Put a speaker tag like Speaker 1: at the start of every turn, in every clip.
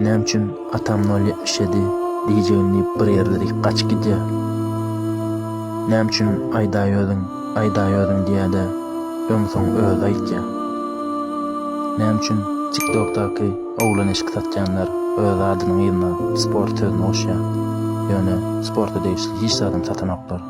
Speaker 1: Näme üçin atam nol ýetmiş ýedi diýjegini diýip bir ýerleri gaçyp gidýär. Näme üçin aýdaýöziň, aýdaýöziň diýýär-de, öň-soň özi aýtýar. Näme üçin TikTokdaky oglan eşik satýanlar öz adynyň yzyna sport sözüni goşýar, ýöne sporta degişli hiç zadam satanoklar.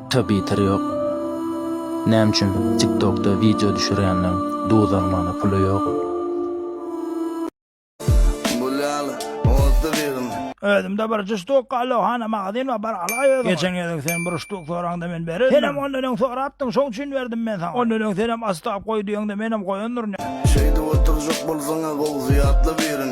Speaker 1: Twitter ýok. Näme üçin tiktokda wideo düşürýänden duz almana puly ýok.
Speaker 2: Özümde bir jüş tukga allo hana magazin we bar alaý özüň. Geçen gezek sen bir ştuk soraňda men berendim. Senem ondan öň sorapdyň şoň üçin berdim men saňa. Ondan öň senem astap goý diýeňde menem goýandyryn. Şeýdip oturjak
Speaker 3: bolsaňa gowy zyýatla birin.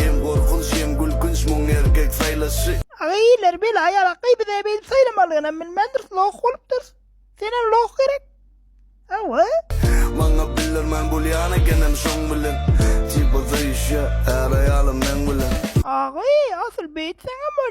Speaker 2: Ýeň
Speaker 3: gorkunç, ýeň gülkünç muň erkek saýlaşy. Agay ileri beli
Speaker 2: ayala gybyda beylip saylamalygynam bilmändiris loh bolupdyrys. Sene loh gerek. Awa. Maňa
Speaker 3: bildirmän bolýan ekenem şoň bilen. Tiba zayşya är aýalym meň bilen. Agay
Speaker 2: asyl beýtseňem bol.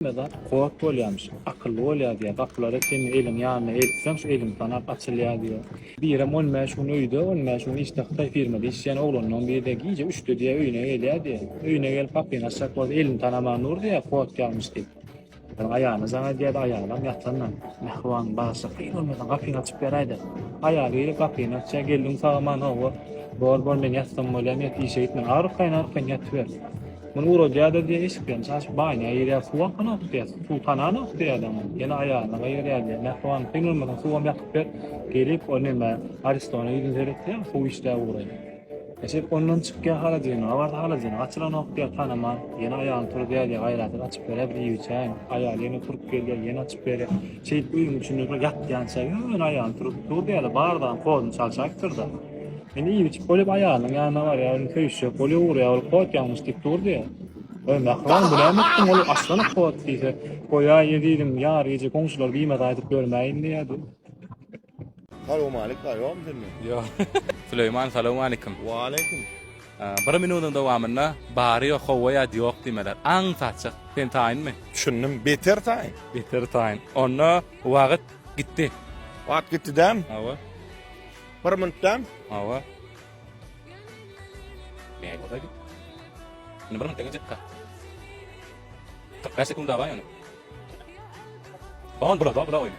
Speaker 4: Hemmedat kod bolýarmyş, akylly bolýar diýýär. Gapylary sen eliň ýanyna eltseň, şu eliň sanap açylýar diýýär. Birem on bäş gün öýde, on bäş gün işde hytaý firmada işleýän oglanlaryň biri-de gije üçde diýýär öýüne gelýär diýýär. Öýüne gelip gapyny açjak bolsa elini tanaman dur diýýär, kod ýazmyş diýip. Sen aýalyna jaň edýädä, aýalam ýatandan, mähriban bagşy, kyn bolmasa gapyňy açyp beräýdä. Aýaly girip gapyny açýar, geldiň sag-aman, hawa, bor, bor, men ýatsam bolýamy, ýat, işe gitme, ar ukaýyn, ar ukaýyn ýatyber. Muny uradýa-da diýen eşiklerini çaçyp banýa girýär, suwam hananok diýýär, suw hananok diýýär adam, ýene aýalyna gaýgyrýar diýýär, mähriban, kyn bolmasa suwam ýakyp ber, gelip, o näme, Aristona ýüzüni seretýär, suw içdä ugraýar. Eşek ondan çykýar haladyny, abardy haladyny, açylanok diýýär tanaman, ýene aýagyny turuzýar diýýär, gaýratyny açyp berýär bir iýiwçäýin, aýaly ýene turup gelýär, ýene açyp berýär, şeýdip öýüň içinde şol ýatýança ýöne aýagyny turup dur diýýärler, bardagyň hozuny çalşaýypdyr-da, indi iýiwçik bolup aýalynyň ýanyna barýar, indi söýüşjek bolýar, ugurýar, ol hot ýalňyş diýip dur diýýär. Öý, mähriban, bu näme etdiň, ol açylanok hot diýse, goýaý ezizim, ýar gije goňşular biýmaz aýdyp ýörmäýin diýýär.
Speaker 5: Salowmalik
Speaker 6: bar ýokmy sende?
Speaker 5: Ýok. Süleýman
Speaker 6: salowmalikim.
Speaker 5: Waleýkim.
Speaker 6: Bir minutyň dowamynda bary ýok, howwa ýa-da ýok diýmeler. Aň saçjak. Sen taýynmy? Düşündim. Beter
Speaker 5: taýyn. Beter taýyn.
Speaker 6: Onda wagyt gitdi. Wagyt gitdi
Speaker 5: däm? Hawa.
Speaker 6: Bir
Speaker 5: minut däm? Hawa. Näme
Speaker 6: boldy? Indi bir minut geçipka. 45 sekunda bar ýöne. On bula, bula oýna.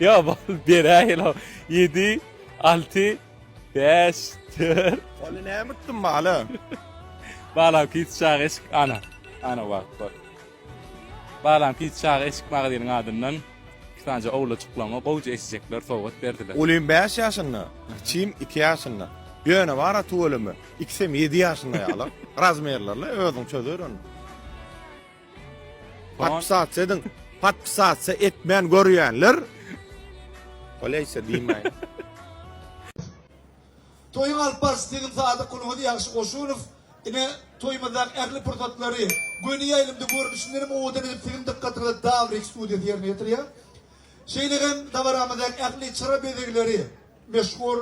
Speaker 5: Ýa
Speaker 6: bal beräýela. 7 6 5 4 Ony näme etdim
Speaker 5: bala?
Speaker 6: Balam pis çaga eşik ana. Ana bak bak. Balam pis çaga eşik magaziniň adyndan iki tane owlajyklaryňa gowja eşjekler sowgat berdiler. Ulym 5 ýaşynda,
Speaker 5: kiçim 2 ýaşynda. Ýöne bara tüweleme, ikisem 7 ýaşynda ýaly. Razmerlerle özüň çözer ony. Patpsat edin. Patpsat etmän görýänler. Oleyse diýmäýin.
Speaker 7: Toýuň alyp barşy siziň Sadyk gulhody ýagşy goşunow ine toýumyzdaky ähli pursatlary göni ýaýlymda görnüşinden hem owadan edip siziň dykgatyňyza Dawrik studiýasy ýerine ýetirýär. Şeýle hem dabaramyzdaky ähli çyra bezegleri meşhur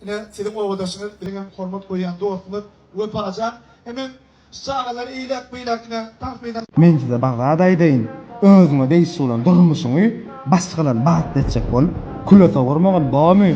Speaker 7: ine siziň obadaşyňyz biziň hem hormat goýýan dostumyz Wepajan hemem Şu çagalar iýläp beýläkine tans edäs.
Speaker 8: Men size bir zat aýdaýyn, özüňe degişli bolan durmuşyňy başgalar bagt etjek bolup küle sowurmagyn, bormy?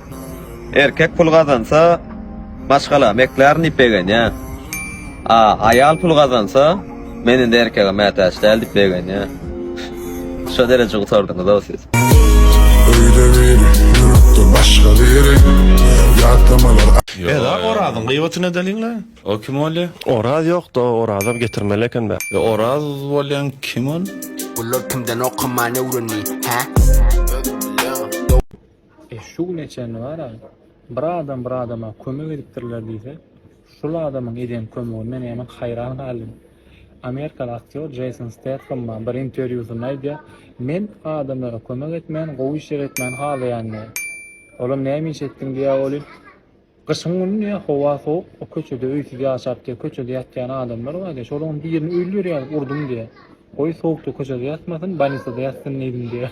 Speaker 9: Erkek pul gazansa, maşgala meklärin diýip begenýär. A aýal pul gazansa, men indi erkege mätäç däl diýip begenýär. Şo dereje gutardyňyz-ow siz. Öýde biri, ýürekde
Speaker 10: başga biri, ýatlamalar. Eda
Speaker 5: Orazyň gybatyny edeliňle. O kim bolýa?
Speaker 6: Oraz ýokda
Speaker 11: Orazam getirmeli ekenbä. Yo Oraz bolyan
Speaker 6: kim ol? Bular kimden
Speaker 12: okamany öwrendi hä.
Speaker 4: E şu güne çenli bar-a, bir adam bir adama kömek edipdirler diýse, şul adamyň eden kömegine näme haýran galdym. Amerikaly aktýor Jeýson Stethammam bir interwýusynda aýdýar, Men adamlara kömek etmän, gowy işler etmäni halaýan diýýär. Olam näme iş etdiň diýýär welin. Gyşyň güni diýýär, howa sowuk, o köçede öýsüz ýaşap diýýär, köçede ýatýan adamlar bar diýýär, şolaryň birini öýli berýäris, urdum diýýär. Goý, sowukda köçede ýatmasyn, bolnisada ýatsyn diýdim
Speaker 3: diýýär.